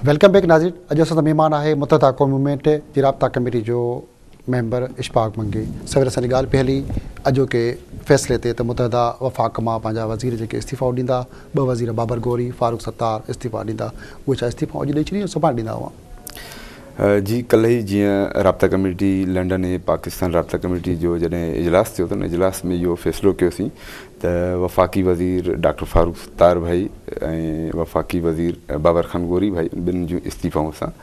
Welcome back ناظرين اڄ اسان سان مهمان آهي متحده قوم موومينٽ جي رابطا ڪميٽي جو ميمبر اشفاق منگي سوير اسان جي ڳالهه پئي هلي اڄوڪي فيصلي تي ته متحده وفاق مان پنهنجا وزير جيڪي استعيفا ڏيندا ٻه وزير بابر غوري فاروق ستار استعيفا ڏيندا اهي ڇا استعيفا اڄ ڏئي ڇڏيندا سڀاڻي ڏيندا هئا جي ڪلهه ئي جيئن رابطا ڪميٽي لنڊن ۽ پاڪستان رابطا ڪميٽي جو جڏهن اجلاس ٿيو ته ان اجلاس ۾ اهو فيصلو ڪيوسين ته وفاقي وزير ڊاڪٽر فاروق ستار ڀائي ۽ وفاقي وزير بابر خان غوري ڀائي ٻنهي جون استعيفائون اسان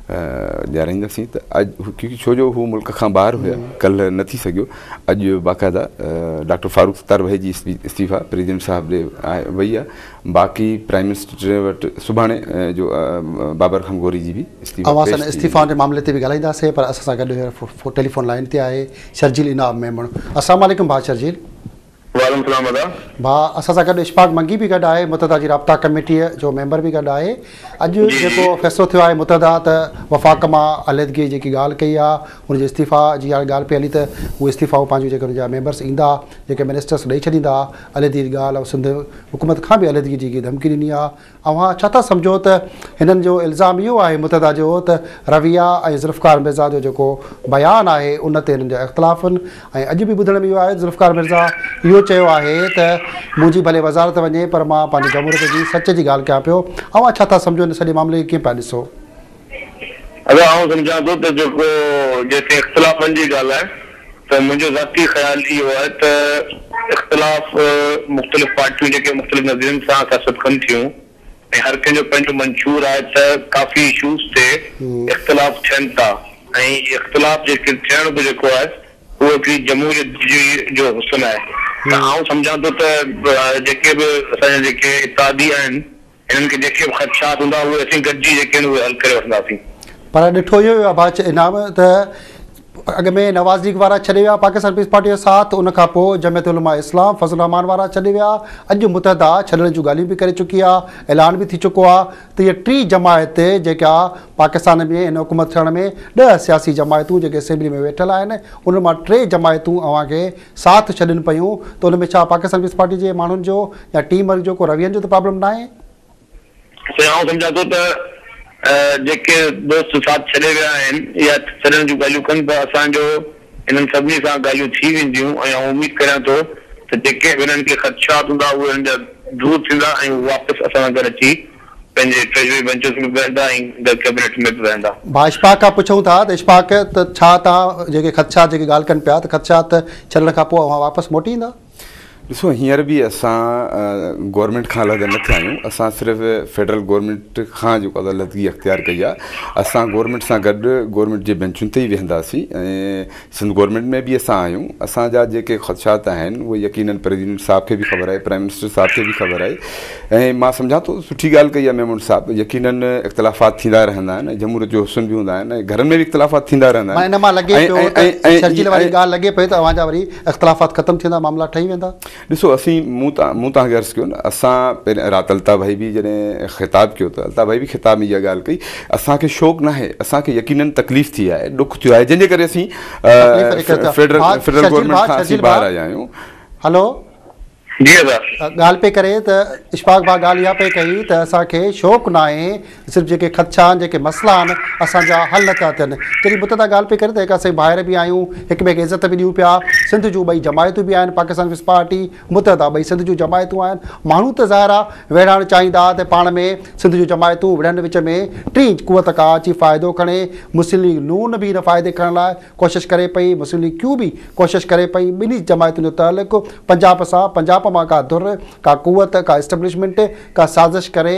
ڏيارائينداسين ته اڄ ڪيونڪه ڇو جو هو ملڪ کان ٻاهر هيا ڪلهه نه ٿي سگهيو اڄ باقاعده ڊاڪٽر فاروق ستار ڀائي جي استعيفا پريزيڊنٽ صاحب ڏي وئي آهي باقي پرائيم منسٽر وٽ سڀاڻي جو بابر خمگوري جي به استعيفا پيش ٿي ويندو. اوهان سان استعيفائن جي معاملي تي به ڳالهائينداسين پر اسان سان گڏ هينئر ٽيليفون لائين تي آهي شرجيل انعام ميمڻ. السلام عليڪم ڀاء شرجيل. وعليڪم السلام ادا. ڀاء اسان سان گڏ اشفاق منگي به گڏ آهي متحده جي رابطا ڪميٽي جو ميمبر به گڏ آهي. اڄ جيڪو فيصلو ٿيو آهي متحده ته وفاق مان عليحدگي جي جيڪي ڳالهه ڪئي آهي ان جي استعيفا جي هاڻي ڳالهه پئي هلي ته اهو استعيفا پنهنجو جيڪي ان جا ميمبرس ايندا جيڪي منسٽرس ڏئي ڇڏيندا. عليحدگي جي ڳالهه ۽ سنڌ حڪومت کان به عليحدگي جي ڌمڪي ڏني آهي، اوهان ڇا ٿا سمجهو ته هنن جو الزام اهو آهي متحده جو ته رويه ۽ ذوالفقار مرزا جو جيڪو بيان آهي ان تي هنن جا اختلاف آهن ۽ اڄ به ٻڌڻ ۾ اهو آهي ته ذوالفقار مرزا اهو چيو آهي ته منهنجي ڀلي وزارت وڃي پر مان پنهنجي جمهوريت جي سچ جي ڳالهه ڪيان پيو، اوهان ڇا ٿا سمجهو هن سڄي معاملي کي ڪيئن پيا ڏسو؟ ادا آئون سمجهان ٿو ته جيڪو جيسين اختلافن جي ڳالهه آهي ته منهنجو ذاتي خيال اهو آهي ته اختلاف مختلف پارٽيون جيڪي مختلف نظرين سان سياست ڪن ٿيون ۽ هر ڪنهن جو پنهنجو منشور آهي ته ڪافي اشوز تي اختلاف ٿين ٿا ۽ اختلاف جيڪي ٿيڻ به جيڪو آهي اهو هڪڙي جمهوريت جي جو حسن آهي ته آئون سمجهان ٿو ته جيڪي به اسان جا جيڪي اتحادي آهن هنن کي جيڪي به خدشات هوندا، اهي اسين گڏجي جيڪي آهن اهي حل ڪري وٺنداسين. پر ڏٺو اهو ويو آهي باچ انعام ته اڳ ۾ نواز ليگ وارا ڇڏي ويا پاڪستان پيپلز پارٽي جو ساٿ ان کان پوء جمعيت علماء اسلام فضل الرحمان وارا ڇڏي ويا اڄ متحده ڇڏڻ جون ڳالهيون به ڪري چڪي آهي اعلان به ٿي چڪو آهي ته هيء ٽين جماعت جيڪا پاڪستان ۾ هن حڪومت ٺهڻ ۾ ڏهه سياسي جماعتون جيڪي اسيمبلي ۾ ويٺل آهن انهن مان ٽي جماعتون اوهان کي ساٿ ڇڏين پيون ته ان ۾ ڇا پاڪستان پيپلز پارٽي جي ماڻهن جو يا ٽيم ورڪ جو ڪو روين جو ته پرابلم ناهي؟ سائين آئون سمجهان ٿو ته جيڪي دوست ساٿ ڇڏي ويا آهن يا ڇڏڻ جون ڳالهيون ڪن ته اسان جو انهن سڀني سان ڳالهيون ٿي وينديون ۽ آئون اميد ڪريان ٿو ته جيڪي به انهن کي خدشات هوندا اهي انهن جا دور ٿيندا ۽ هو واپس اسان سان گڏ اچي پنهنجي ٽريجري بئنچز ۾ به ويهندا ۽ گڏ ڪيبنيٽ ۾ به ويهندا. ڀا اشفاق کان پڇون ٿا ته اشفاق ته ڇا توهان جيڪي خدشات جيڪي ڳالهه ڪن پيا ته خدشات ڇڏڻ کان پوء اوهان واپس موٽي ايندا؟ ڏسو هينئر به اسان گورنمينٽ کان علحده نه ٿيا آهيون اسان صرف فيڊرل گورنمينٽ کان جيڪو علحدگي اختيار ڪئي آهي اسان گورنمينٽ سان گڏ گورنمينٽ جي بئنچن تي ئي ويهنداسين ۽ سنڌ گورنمينٽ ۾ به اسان آهيون اسان جا جيڪي خدشات آهن اهي يقينن پريزيڊنٽ صاحب کي به خبر آهي پرائم منسٽر صاحب کي به خبر آهي ۽ مان سمجهان ٿو سٺي ڳالهه ڪئي آهي ميمڻ صاحب يقينن اختلافات ٿيندا رهندا آهن ۽ جمهوريت جو حسن به هوندا آهن ۽ گهرن ۾ به اختلافات ٿيندا رهندا آهن ان مان لڳي پيو ته شرجيل واري ڳالهه لڳي پئي ته اوهان جا وري اختلافات ختم ٿيندا معاملا ٺهي ويندا. ڏسو اسين مون تان مون تان عرض ڪيو نه اسان پهرين رات الطاف ڀائي به جڏهن خطاب ڪيو ته الطاف ڀائي به خطاب ۾ اها ڳالهه ڪئي اسان کي شوق نه آهي اسان کي يقينن تڪليف ٿي آهي ڏک ٿيو آهي جنهن جي ڪري اسين فيڊرل فيڊرل گورنمينٽ کان اسين ٻاهر آيا آهيون هلو جي ڳالهه پئي ڪري ته اشفاق ڀاء ڳالهه اها پئي ڪئي ته اسان کي شوق نه آهي صرف جيڪي خدشا آهن، جيڪي مسئلا آهن، اسان جا حل نه ٿا ٿين. جڏهن بت تان ڳالهه پئي ڪري ته هڪ اسين ڀائر به آهيون، هڪ ٻئي کي عزت به ڏيون پيا. سنڌ جون ٻئي جماعتون به آهن، پاڪستان پيپلز پارٽي، متحده ٻئي سنڌ جون جماعتون آهن. ماڻهو ته ظاهر آهي ويڙهائڻ چاهين ٿا ته پاڻ ۾ سنڌ جون جماعتون وڙهن وچ ۾ ٽين قوت ڪا اچي فائدو کڻي. مسلم ليگ نون به ان فائدي کڻڻ لاء ڪوشش ڪري پئي، مسلم ليگ ڪيون به ڪوشش ڪري پئي. ٻنهي جماعتن جو تعلق پنجاب سان، پنجاب مان ڪا ڌر، ڪا قوت، ڪا اسٽبلشمينٽ ڪا سازش ڪري،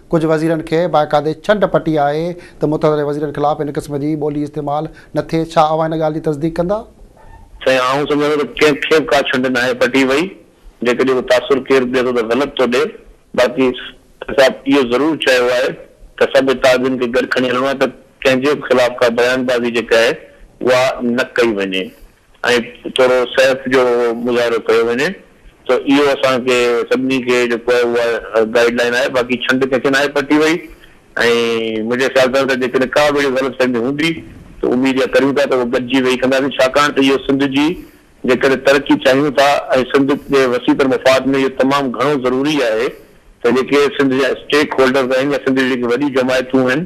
ڪجهه وزيرن کي باقاعدي ڇنڊ پٽي آهي ته متحده وزيرن خلاف هن قسم جي ٻولي استعمال نه ٿئي، ڇا اوهان هن ڳالهه جي تصديق ڪندا؟ سائين آئون سمجهان ٿو ته ڪنهن کي به ڪا ڇنڊ ناهي پٽي وئي، جيڪڏهن ڪو تاثر ڪير ڏئي ٿو ته غلط ٿو ڏئي، باقي سيد صاحب اهو ضرور چيو آهي ته سڀ اتحادين کي گڏ کڻي هلڻو آهي ته ڪنهن جي به خلاف ڪا بيان بازي جيڪا آهي اها نه ڪئي وڃي، ۽ ٿورو صحت جو مظاهرو ڪيو وڃي ته اهو اسان کي سڀني کي جيڪو آهي اها گائيڊ لائين آهي باقي ڇنڊ ڪنهن کي ناهي پٽي وئي ۽ منهنجي خيال سان ته جيڪڏهن ڪا به اهڙي غلط فهمي هوندي ته اميد اها ڪريون ٿا ته اهو گڏجي ويهي ڪنداسين ڇاڪاڻ ته اهو سنڌ جي جيڪڏهن ترقي چاهيون ٿا ۽ سنڌ جي وسيع تر مفاد ۾ اهو تمام گهڻو ضروري آهي ته جيڪي سنڌ جا اسٽيڪ هولڊرز آهن يا سنڌ جون جيڪي وڏيون جماعتون آهن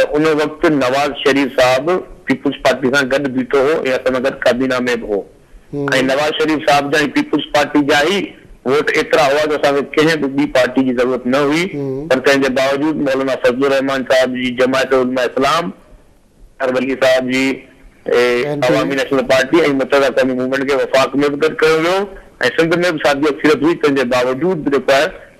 ته ان وقت نواز شريف صاحب پيپلز پارٽي سان گڏ بيٺو هو ۽ اسان سان گڏ ڪابينا ۾ به هو ۽ نواز شريف صاحب جا ۽ پيپلز پارٽي جا ئي ووٽ ايترا هئا جو اسان کي ڪنهن به ٻي پارٽي جي ضرورت نه هئي پر تنهن جي باوجود مولانا فضل الرحمان صاحب جي جماعت علماء اسلام، اظهر ولي صاحب جي عوامي نيشنل پارٽي ۽ متحده قومي موومينٽ کي وفاق ۾ به گڏ ڪيو ويو ۽ سنڌ ۾ به ساڳي اڪثريت هئي تنهن جي باوجود به جيڪو آهي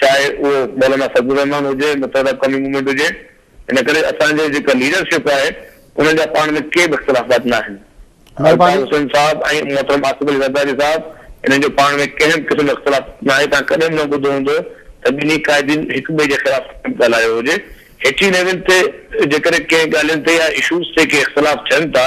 چاهي اهو مولانا فضل الرحمان هجي، متحده قومي موومينٽ هجي، ان ڪري اسان جي جيڪا ليڊرشپ آهي انهن جا پاڻ ۾ ڪي به اختلافات نه آهن. الطاف حسين صاحب ۽ محترم آصف علي زرداري صاحب انهن جو پاڻ ۾ ڪنهن به قسم جو اختلاف نه آهي، توهان ڪڏهن به نه ٻڌو هوندو ته ٻنهي قائدين هڪ ٻئي جي خلاف ڪڏهن به ڳالهايو هجي. هيٺين ليول تي جيڪڏهن ڪنهن ڳالهين تي يا اشوز تي ڪي اختلاف ٿين ٿا،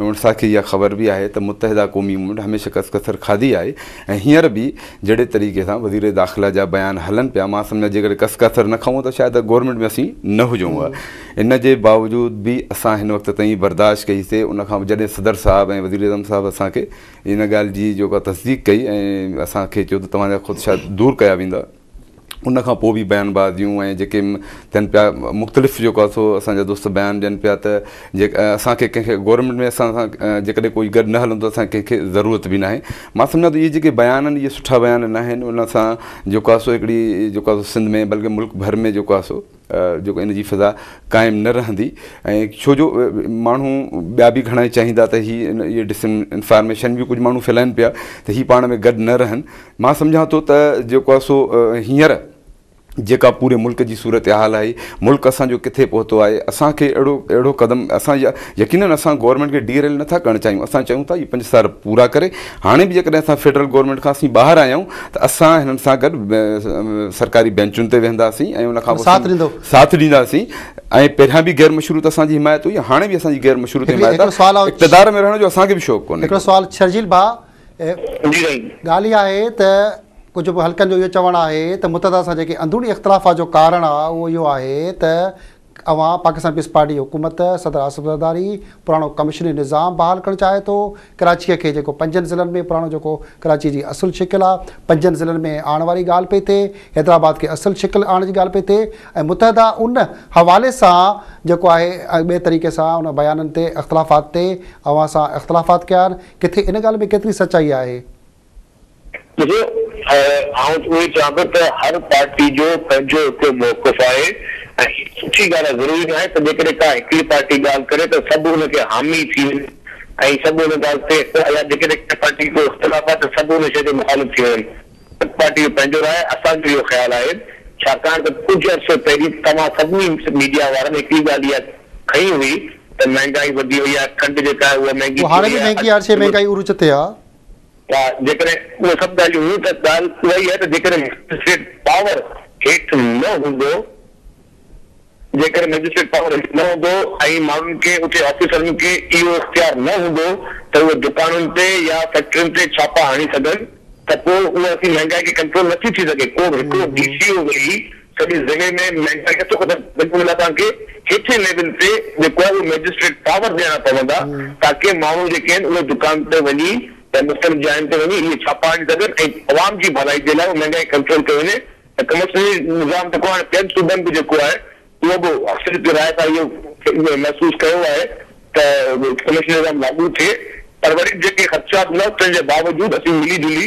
اسان کي اها خبر به آهي ته متحده قومي موومينٽ هميشه ڪس ڪسر کاڌي آهي ۽ هينئر به جهڙي طريقي سان وزير داخلا جا بيان هلن پيا مان سمجهان جيڪڏهن ڪس ڪسر نه کائون ته شايد گورنمينٽ ۾ اسين نه هجون ها ان جي باوجود به اسان هن وقت تائين برداشت ڪئي سي ان کان جڏهن صدر صاحب ۽ وزير اعظم صاحب اسان کي ان ڳالهه جي جيڪا تصديق ڪئي ۽ اسان کي چيو ته توهان جا خدشا دور ڪيا ويندا. ان کان پوء به بيان بازيون ۽ جيڪي ٿين پيا مختلف جيڪو آهي سو اسان جا دوست بيان ڏين پيا ته جي اسان کي ڪنهن کي گورنمينٽ ۾ اسان سان جيڪڏهن ڪوئي گڏ نه هلندو اسان ڪنهن کي ضرورت به ناهي مان سمجهان ٿو اهي جيڪي بيان آهن اهي سٺا بيان ناهن ان سان جيڪو آهي سو هڪڙي جيڪو آهي سو سنڌ ۾ بلڪه ملڪ ڀر ۾ جيڪو آهي سو جيڪو ان جي فضا قائم نه رهندي ۽ ڇو جو ماڻهو ٻيا به گهڻائي چاهيندا ته هي اهي ڊس انفارميشن به ڪجهه ماڻهو ڦهلائين پيا ته هي پاڻ ۾ گڏ نه رهن مان سمجهان ٿو ته جيڪو آهي سو هينئر جيڪا پوري ملڪ جي صورتحال آهي ملڪ اسان جو ڪٿي پهتو آهي اسان کي اهڙو اهڙو قدم اسان يقينن اسان گورنمينٽ کي ڊي ريل نٿا ڪرڻ چاهيون اسان چاهيون ٿا هي پنج سال پورا ڪري هاڻي به جيڪڏهن اسان فيڊرل گورنمينٽ کان اسين ٻاهر آيائون ته اسان هنن سان گڏ سرڪاري بينچن تي ويهنداسين ۽ ان کان پوء ساٿ ڏيندو ساٿ ڏينداسين ۽ پهريان به غير مشروط اسان جي حمايت هئي هاڻي به اسان جي غير مشروط حمايت آهي اقتدار ۾ رهڻ جو اسان کي به شوق ڪونهي هڪڙو سوال شرجيل ڀاء ڳالهه هي آهي ته ڪجهه حلقن جو اهو چوڻ آهي ته متحده سان جيڪي اندروني اختلافات جو ڪارڻ آهي اهو اهو آهي ته اوهان پاڪستان پيپلز پارٽي حڪومت صدر آصف زرداري پراڻو ڪمشنري نظام بحال ڪرڻ چاهي ٿو ڪراچيء کي جيڪو پنجن ضلعن ۾ پراڻو جيڪو ڪراچيء جي اصل شڪل آ پنجن ضلعن ۾ آڻڻ واري ڳالهه پئي ٿئي حيدرآباد کي اصل شڪل آڻڻ جي ڳالهه پئي ٿئي ۽ متحده ان حوالي سان جيڪو آهي ٻئي طريقي سان ان بيانن تي اختلافات تي اوهان سان اختلافات ڪيا آهن ڪٿي ان ڳالهه ۾ ڪيتري سچائي آهي. ڏسو آئون اهو چوان ٿو ته هر پارٽي جو پنهنجو هڪڙو موقف آهي ۽ هي سٺي ڳالهه آهي ضروري نه آهي ته جيڪڏهن ڪا هڪڙي پارٽي ڳالهه ڪري ته سڀ ان کي حامي ٿي وڃن ۽ سڀ ان ڳالهه تي يا جيڪڏهن ڪنهن پارٽي کي ڪو اختلاف آهي ته سڀ ان شيء تي مخالف ٿي وڃن هر پارٽي جو پنهنجو راء آهي اسان جو اهو خيال آهي ڇاڪاڻ ته ڪجهه عرصي پهرين توهان سڀني ميڊيا وارن هڪڙي ڳالهه اها کنئي هئي ته مهنگائي وڌي وئي آهي کنڊ جيڪا آهي اها مهنگي ٿي وئي آهي. اهو هاڻي به مهنگي آهي ڇي مهنگائي عروج تي آهي. ها جيڪڏهن اهي سڀ ڳالهيون هيون ته ڳالهه اها ئي آهي ته جيڪڏهن مئجسٽريٽ پاور هيٺ نه هوندو جيڪڏهن مئجسٽريٽ پاور هيٺ نه هوندو ۽ ماڻهن کي اتي آفيسرن کي اهو اختيار نه هوندو ته اهي دڪانن تي يا فيڪٽرين تي ڇاپا هڻي سگهن ته پوء اها سي مهنگائي کي ڪنٽرول نٿي ٿي سگهي ڪو به هڪڙو ڊي سي او ويهي سڄي ضلعي ۾ مهنگائي نٿو ختم ٿئي ان لاء اسان کي هيٺين ليول تي جيڪو آهي اهو مئجسٽريٽ پاور ڏيڻا پوندا تاڪه ماڻهو جيڪي آهن اهي دڪان تي وڃي يا مختلف جاين تي وڃي اهي ڇاپا هڻي سگهن ۽ عوام جي ڀلائي جي لاء مهنگائي ڪنٽرول ڪئي وڃي ته ڪمرشل نظام جيڪو هاڻي ٻين صوبن به جيڪو آهي اهو به اڪثريت جي راء سان اهو محسوس ڪيو آهي ته ڪمرشل نظام لاڳو ٿئي پر وري به جيڪي خدشات هوندا تنهن جي باوجود اسين ملي جلي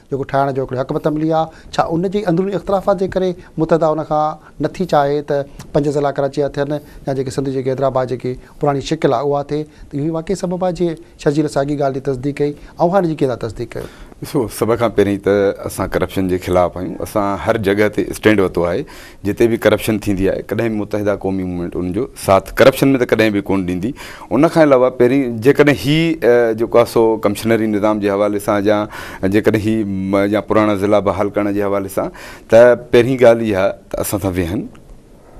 جيڪو ٺاهڻ جو هڪڙو حق به ته ملي ها، ڇا ان جي اندروني اختلافات جي ڪري متحده ان کان نه ٿي چاهي ته پنج ضلعا ڪراچيء جا ٿين يا جيڪي سنڌ جي جيڪي حيدرآباد جيڪي پراڻي شڪل آهي اها ٿئي ته اهو ئي واقعي سبب آهي جنهن شرجيل ساڳي ڳالهه جي تصديق ڪئي اوهان ان جي ڪيئن ٿا تصديق ڪيو؟ ڏسو سڀ کان پهرين ته اسان ڪرپشن جي خلاف آهيون اسان هر جڳهه تي اسٽينڊ ورتو آهي. جتي به ڪرپشن ٿيندي آهي ڪڏهن به متحده قومي موومينٽ ان جو ساٿ ڪرپشن ۾ ته ڪڏهن به ڪون ڏيندي ان کان علاوه پهرين جيڪڏهن هي جيڪو آهي سو ڪمشنري نظام جي حوالي سان جا جيڪڏهن هي جا پراڻا ضلعا بحال ڪرڻ جي حوالي سان ته پهرين ڳالهه اها ته اسان سان ويهن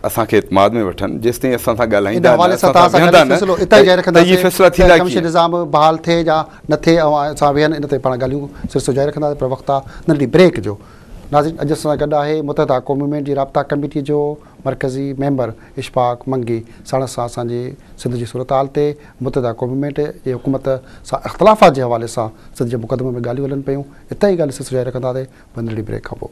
اسان کي اعتماد ۾ وٺن جيستائين اسان سان ڳالهائيندا نه اسان سان ويهندا نه ته اهي فيصلا ٿيندا ڪيئن ڪمشنري نظام بحال ٿئي يا نه ٿئي اوهان اسان ويهن ان تي پاڻ ڳالهيون سلسلو جاري رکنداسين پر وقت آهي ننڍڙي بريڪ جو ناظرين اڄ اسان سان گڏ آهي متحده قومي مين جي رابطا ڪميٽي جو مرڪزي ميمبر اشفاق منگي ساڻس اسان اسان جي سنڌ جي صورتحال تي متحده قومي مينٽ جي حڪومت سان اختلافات جي حوالي سان سنڌ جي مقدمي ۾ ڳالهيون هلن پيون اتي هي ڳالهيون سلسلو جاري رکنداسي پر ننڍڙي بريڪ کان پوء.